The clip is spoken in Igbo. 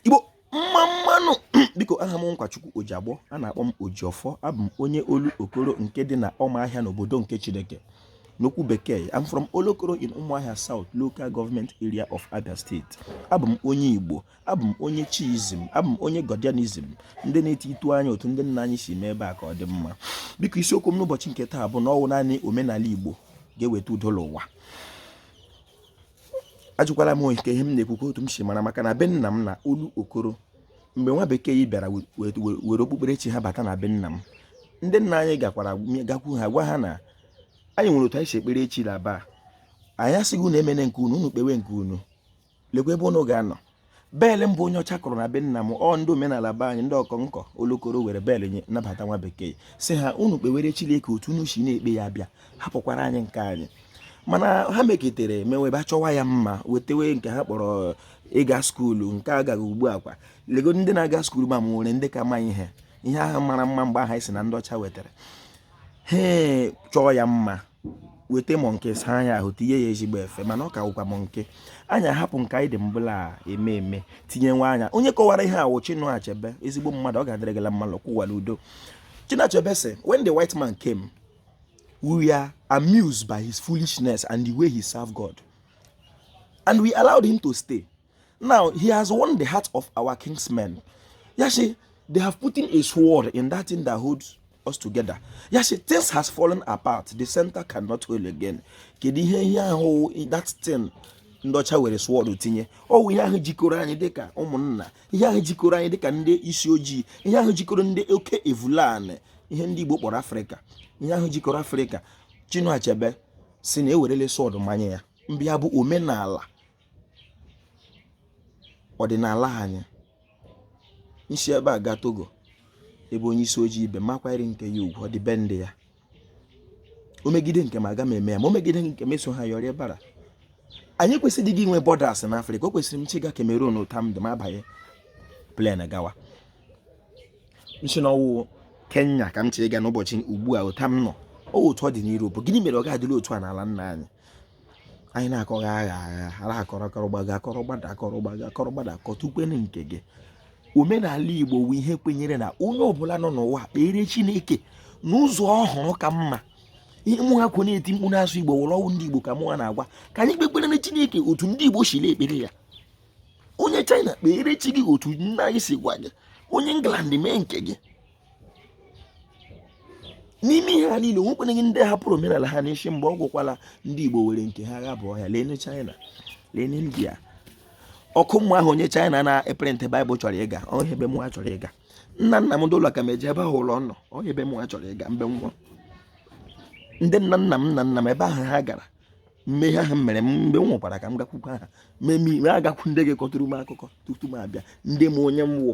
igbo mma mmanụ biko aha m nkwachukwu ojiagbọ a na-akpọ m ojiọfọ abụ m onye Olokoro nke dị na ọmahịa n'obodo nke chineke n'okwu bekee I'm from Olokoro in Umuahia South local government area of Abia State abụ m onye Igbo abụ m onye chiizm abụ m onye Godianism ndị na-eti itu anya otu ndị nna anyị si mee ebe a ka ọ dị mma biko isiokwu m n'ụbọchị nke taa bụ na ọ wụ naanị omenala Igbo ga-eweta udo n'ụwa ajụkwala m nke ihe m na-ekwukwa otu m si mara maka na be nna m na Olokoro mgbe nwa bekee yi bịara were okpukperechi ha bata na be nna m ndị nna anyị gakwu ha gwa ha na anyị nwere otu anyị si ekpere chi laba anyị asịghị unu emene nke unu unu kpewe nke unu lekwa ebe unu ga-anọ bell mbụ onye ọcha kụrụ na be nna m ọ ndị omenala be anyị ndị Ọkọnkọ olokoro were bell nye nabata nwa bekee sị ha unu kpewere Chineke otu unu si na-ekpe ya bịa hapụkwara anyị nke anyị mana ha meketere mewe ebe achọwa ya mma wetewe nke ha kpọrọ ịga skuulu nke agaghị ugbu a kwa lego ndị na-aga skuulu ma e nwere ndị ka ma ihe ihe ahụ mara mma mgbe ahụ a sị na ndị ọcha wetara ha chọọ ya mma weta monkey saa ya ahụ tinye ya ezigbo efe mana ọ ka wụkwa monkey anyị ahapụ nke anyị dị mbụ la-eme eme tinyewa anya onye kọwara ihe a wụ Chinua Achebe ezigbo mmadụ ọ ga-adịrị gị la mma lakwuwa l'udo Chinua Achebe sị when the white man came we were amused by his foolishness and the way he served God and we allowed him to stay Now he has won the heart of our kinsmen. Ya sị, they have put in a sword in that thing that holds us together. Ya sị, things has fallen apart. The center cannot hold again. Kedu ihe ihe ahụ that thing ndị ọcha were sword tinye ọ wụ ihe ahụ jikọrọ anyị dịka ụmụnna ihe ahụ jikọrọ anyị dịka ndị isi ojii ihe ahụ jikọrọ ndị Okebulani ihe ndị Igbo kpọrọ Afrịka ihe ahụ jikọrọ Afrịka Chinua Achebe sị na e werele sword manye ya bụ ya bụ omenala ọdịnala anyị m si ebe a gaa Togo ebe onye isi ojii ibe m akwanyere nke ya ugwu ọ dị be ndị ya o megide nke m aga m eme ya ma o megide nke m eso ha yọrịa bara anyị kwesịrịghị inwe borders na afrịka o kwesịrị m chọ ịga Cameroon otu a m dị m abanye plane gawa m sị na ọ wụ kenya ka m chọrọ ịga n'ụbọchị ugbu a otu a m nọ otu ọ dị n'Europe gịnị mere ọ ga-adịrị otu a n'ala nna anyị anyị na-akọghị agha agha ara akọrọ akọrọ gbago akọrọ gbada akọrọ gbago akọrọ gbada akọtukwenu nke gị omenala igbo wụ ihe kwenyere na onye ọbụla nọ n'ụwa kpere chineke n'ụzọ ọ hụrụ ka mma ihe mụ ha kwo na-eti mkpu na-asụ igbo wụ la ọ wụ ndị igbo ka mụ ha na-agwa ka anyị kpekpere na chineke otu ndị igbo si na-ekpere ya onye china kpere chi gị otu nna gị si gwa gị onye england mee nke gị n'ime ihe a niile o nwekwanaghị ndị hapụrụ omenala ha n'isi mgbe ọ gwụkwala ndị Igbo were nke ha gha bụ ọhịa leenụ China leenụ India ọkụ mmụọ ahụ onye China na-eprint Bible chọrọ ịga ọ ya ebe mụ chọrọ ịga nna nna m ndị ụlọ ka m eji ebe ahụ ụlọ nọ ọ ya ebe mụ chọrọ ịga mgbe nwa ndị nna nna m nna nna m ebe ahụ ha gara mmehie ahụ mere m mgbe m nwụkwara ka m gakwukwa ha mee agakwu ndị gị kọtụrụ m akụkọ tutu m abịa ndị m onye m wụ